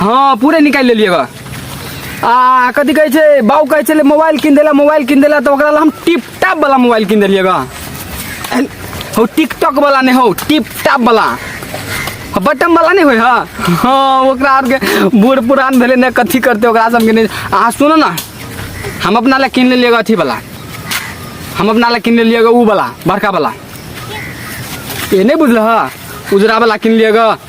हाँ पूरे निकाल लेलिए बा आ कथी कहै छै बाबू कहै छलै मोबाइल कीन देला मोबाइल कीन देला तऽ ओकरा लए हम टिप टाप वाला मोबाइल कीन देलिए बा हो टिकटॉक वाला नहीं हो टिप टाप वाला बटन वाला नहीं होय हाँ हाँ ओकरा आरके बूढ़ पुरान भेलै ने कथी करतै ओकरा सबके नहि अहाँ सुनू ने हम अपना लए कीन लेलिए अथी वाला हम अपना लए कीन लेलिए उ वाला बड़का वाला ये नहीं बुझल है उजरा वाला किन लिएगा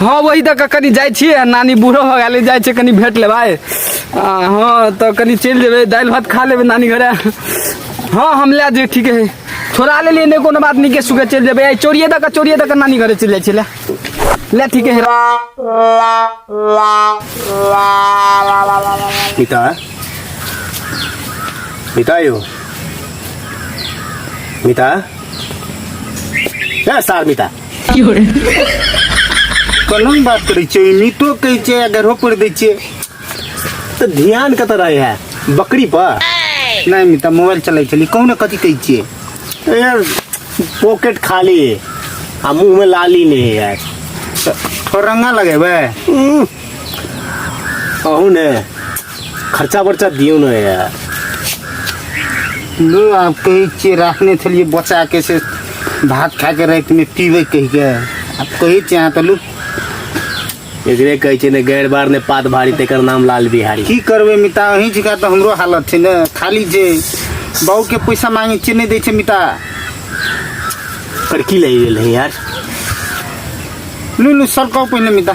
हाँ वही तक कनी जाइ छियै नानी बूढ़ो हो गेलै जाइ छै कनी भेट लेबै आ, हाँ तऽ कनी चलि जेबै दालि भात खा लेबै नानी घरे हाँ हम लए जेबै ठीके है छोड़ा लेलियै नहि कोनो बात नीके सुखे चलि जेबै आइ चोरिए दऽ कऽ चोरिए दऽ कऽ नानी घरे चलि जाइ छियै लए लए ठीके है पिता पिता यौ मिता ए सार मिता कलम बात करै छियै नीतो कहै छियै आ गढ़ो पढ़ि दै छियै तऽ ध्यान कतऽ रहै है बकरी पर नहि मिता मोबाइल चलै छली कहू ने कथी कहै छियै ए, पॉकेट खाली है आ मुंह में लाली नहीं है यार थोड़ा रंगा लगेबै अहू ने खर्चा बर्चा दियो ना यार लो आप कहे छियै राखने छलियै बचा के से भात खा के रात में पीबे कह के आप कहे छियै अहाँ तऽ लो एकरे कहै छै ने गैर बार ने पात भारी तेकर नाम लाल बिहारी की करबै मिता अहीं छिका तऽ हमरो हालत छै ने खाली जे बाबू के पैसा मांगे छियै नहि दै छै मिता पर की लग गेल है यार लू लू सरकाउ पहिने मिता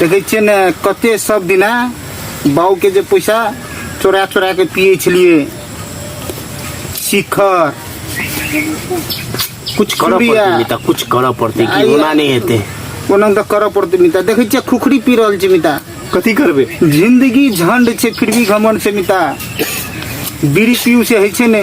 देखै छियै ने कते सब दिना बाबूके जे पैसा चोरा चोरा के पियै छलियै शिखर कुछ करऽ खिमरिया पड़तै मिता कुछ करऽ पड़तै कि आइए। ओना नहि हेतै ओना तऽ करऽ पड़तै मिता देखै छियै खुखरी पी रहल छै मिता कथी करबै जिंदगी झंड छै फिर भी घमंड छै मिता बीड़ी पीऊ से होइ छै ने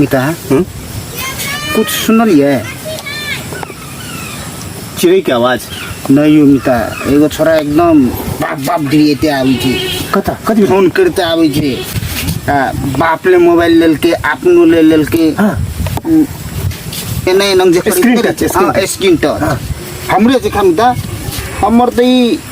मिता हम्म? कुछ सुनलिए चिड़ै के आवाज नहीं यौ मिता एगो छोरा एकदम बाप बाप डिरिएते आबै छै कता कति बेर? फोन करते आबै छै आ बाप ले मोबाइल लेलकै अपनो ले लेलकै हाँ उम, एना एना जे Screen touch, screen touch. Screen touch हमरे जे खाम दा हमर त ई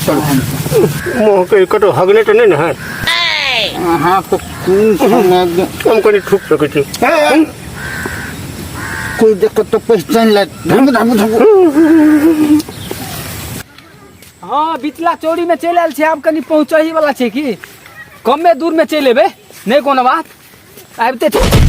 मुँह के कतौ हगने तऽ नहि ने है अहाँ तऽ कोन समय एकदम हम कनि थूक सकै छी ए, कोई देख तो पहचान लायक धम धम धम हाँ बिचला चौड़ी में चल आयल छी आब कनी पहुँच ही वाला छै की कमे दूर में चल एबै नहि कोनो बात आबिते छी।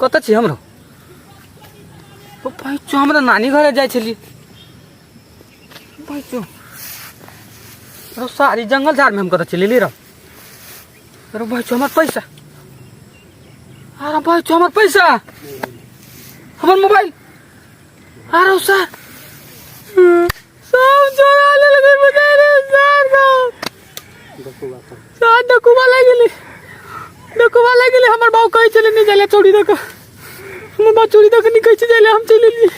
कतऽ छी हमरो ओ पैचो हमरा नानी घरे जाइ छली पैचो रो सारी जंगल झाड़ में हम कतऽ चलेली रह रो पैचो हमर पैसा अरे पैचो हमर पैसा हमर मोबाइल अरे सर सब चोरा ले लगे बता रे सार का डकुआ का सार डकुआ लग गेले डकुआ लग गेले हमर बाऊ कहे चले नहीं जाले चोरी दक हमर बाऊ चोरी दक नहीं कहे छे जाले हम चले ली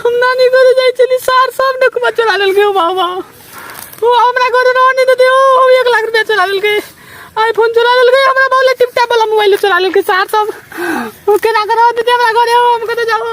हम ना नहीं करे जाई चली सार सब डकुआ चोरा ले लगे बाऊ बाऊ वो हमरा घर रह नहीं देते ओ हम एक लाख रुपया चोरा ले लगे आईफोन चोरा ले लगे हमरा बाऊ ले टिप टैप वाला मोबाइल चोरा ले लगे सार सब ओके ना करो देते हमरा घरे हो हम कते जाओ